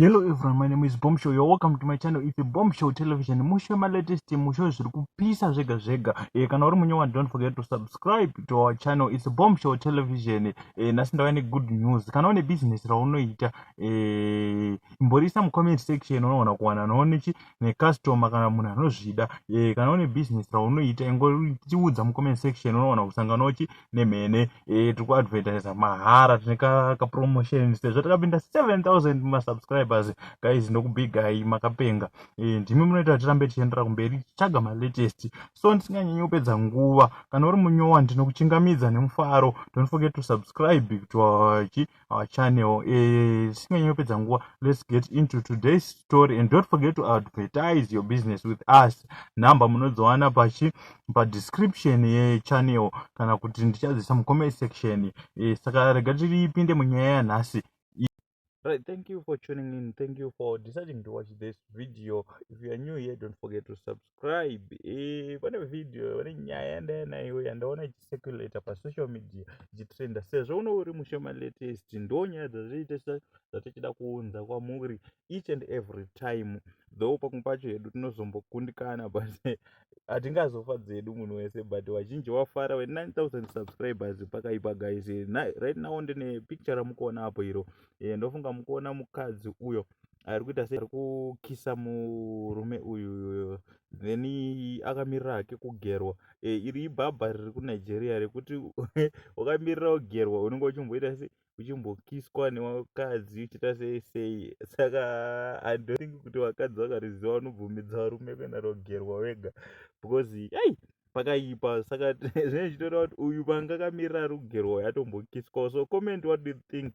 Hello everyone, my name is Bombshow. You're welcome to my channel. It's Bombshow Television. Mushe ma latest mushe zviri kupisa zvega zvega. Eh kana uri munyewa don't forget to subscribe to our channel. It's Bombshow Television. Eh nasi ndava ne good news. Kana une business raunoita eh imborisa mu comment section unoona kuwana noone chi ne customer kana munhu anozvida. Eh kana une business raunoita ingoritiudza mu comment section unoona kusangana uchi nemhene eh, tiri kuadvertisa mahara tine kapromotion sezvo takapinda 7000 masubscribers guys ndokubigai makapenga eh, ndimi munoita kuti tirambe tichiendera kumberi tichitsvaga malatest so ndisinganyanyi kupedza nguva kana uri munyowa ndinokuchingamidza nemufaro don't forget to subscribe to our our channel eh, tisinganyi kupedza nguva let's get into today's story and don't forget to advertise your business with us number munodziwana pachi padescription yechannel kana kuti ndichadzisa mucomment section eh, saka rega tiripinde munyaya yanhasi Right, thank you for tuning in. Thank you for deciding to watch this video. If you are new here, don't forget to subscribe. subscribe eh, pane video pane nyaya yandaya nayo yandaona ichicirculator pasocial media ichitrenda sezvo uno uri mushoma latest ndo nyaya dzazviitesa dzatichida kuunza kwamuri each and every time though pamwe pacho hedu tinozombokundikana but hatingazofa dzedu munhu wese but vazhinji wafara we 9000 subscribers pakaipa guys right now ndine picture ramukuona apo iro eh, ndofunga mukuona mukadzi uyo ari kuita seari kukisa murume uyu then akamirira hake kugerwa e, iri ibhabha riri kunigeria rekuti wakamirira kugerwa unenge uchimboita se uchimbokiswa nevakadzi uchiita sei sei saka andothingi kuti vakadzi vakariziva vanobvumidza varume kuenda rogerwa wega because ei pakaipa saka zvinenge zvichitoda kuti uyu panga akamirira rugerwa yatombokiswa so comment what do you think